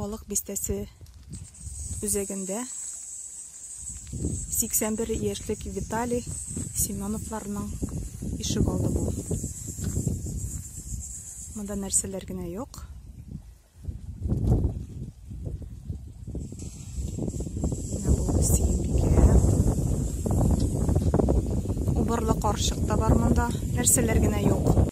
Балык бистәсе үзәгендә 81 яшьлек Виталий Семеновларның ишек алды бу. Монда нәрсәләр генә юк. Убырлы каршык та бар монда. Нәрсәләр генә юк.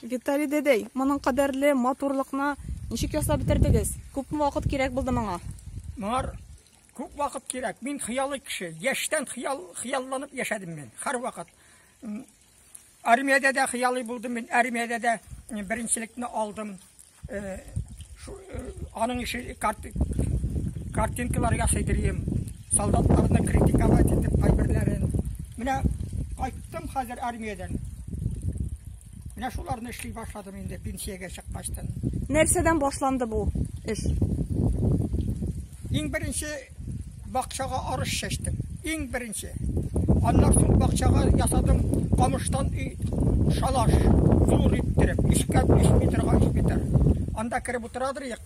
Виталий дәдәй, моның кадәрле матурлыкны ничек ясап бетердегез? Күпме вакыт кирәк булды моңа? Моңар күп вакыт кирәк. Мин хыялый кеше. Яшьтән хыял, хыялланып яшәдем мин. Һәрвакыт. Армиядә дә хыялый булдым мин. Армиядә дә беренчелекне алдым. Аның ише картинкалар ясый дирем. Солдатларны критиковать итеп кайберләрен. Менә кайттым хәзер армиядән. Менә шуларны эшли башладым инде пенсиягә чыккачтан. Нәрсәдән башланды бу эш? Иң беренче бакчага арыш чәчтем. Иң беренче. Аннан соң бакчага ясадым камыштан өй шалаш зур иттереп, өскә 3 метрга 3 метр. Анда кереп утырадыр ек.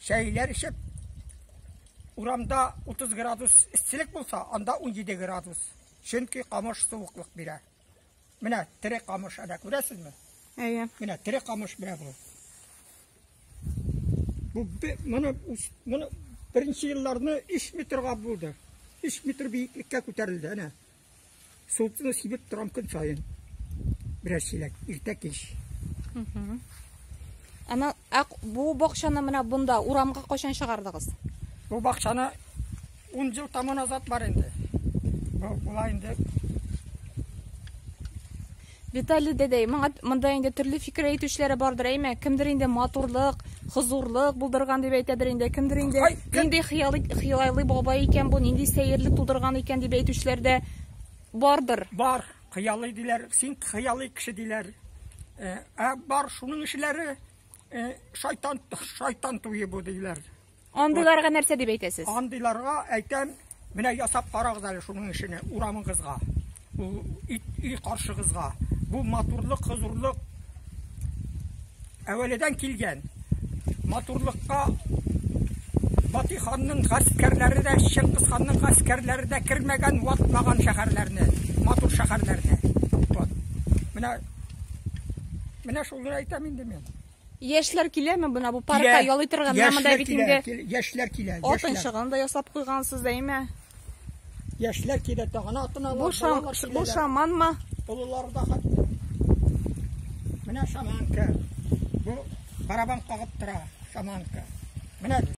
Чәйләр эчеп, урамда 30 градус эсселек булса, анда 17 градус. Чөнки камыш суыклык бирә. Менә тере камыш ана, күрәсезме? Әйе. Менә тере камыш менә бу. Бу моны моны беренче елларны 3 метрга булды. 3 метр биеклеккә күтәрелде, әнә. Султыны сибеп торам көн саен. Берәр чиләк, иртә кич. Ана, ә бу бакчаны менә бунда урамга кайчан чыгардыгыз? Бу бакчаны Ун ел таман азат бар инде. Була инде. Виталий дәдәй, моңа монда инде төрле фикер әйтүчеләре бардыр, әйме? Кемдер инде матурлык, хозурлык булдырган дип әйтәдер инде, кемдер инде нинди хыялы хыялайлы бабай икән бу, нинди сәерлек тудырган икән дип әйтүчеләр дә бардыр. Бар, хыялы диләр, син хыялы кеше диләр. Ә бар шуның эшләре шайтан шайтан туе бу диләр. Андыйларга нәрсә дип әйтәсез? Андыйларга әйтәм, менә ясап карагыз әле шуның эшене урамыгызга, өй каршыгызга. Бу матурлык, хозурлык әвәледән килгән. Матурлыкка Батый ханның гаскәрләре дә, Чыңгыз ханның гаскәрләре дә кермәгән, ватмаган шәһәрләрне, матур шәһәрләрне. Вот. Менә менә шуны әйтәм инде мин. Яшьләр киләме менә бу паркка ял итәргә? Менә монда бит инде яшьләр килә. Атын чыгын да ясап куйгансыз, әйме? Яшьләр килә, тагына атын алалар. Бу шам, бу шаманмы? Олылар да хәтта. Менә шаманка. Бу барабан кагып тора, шаманка. Менә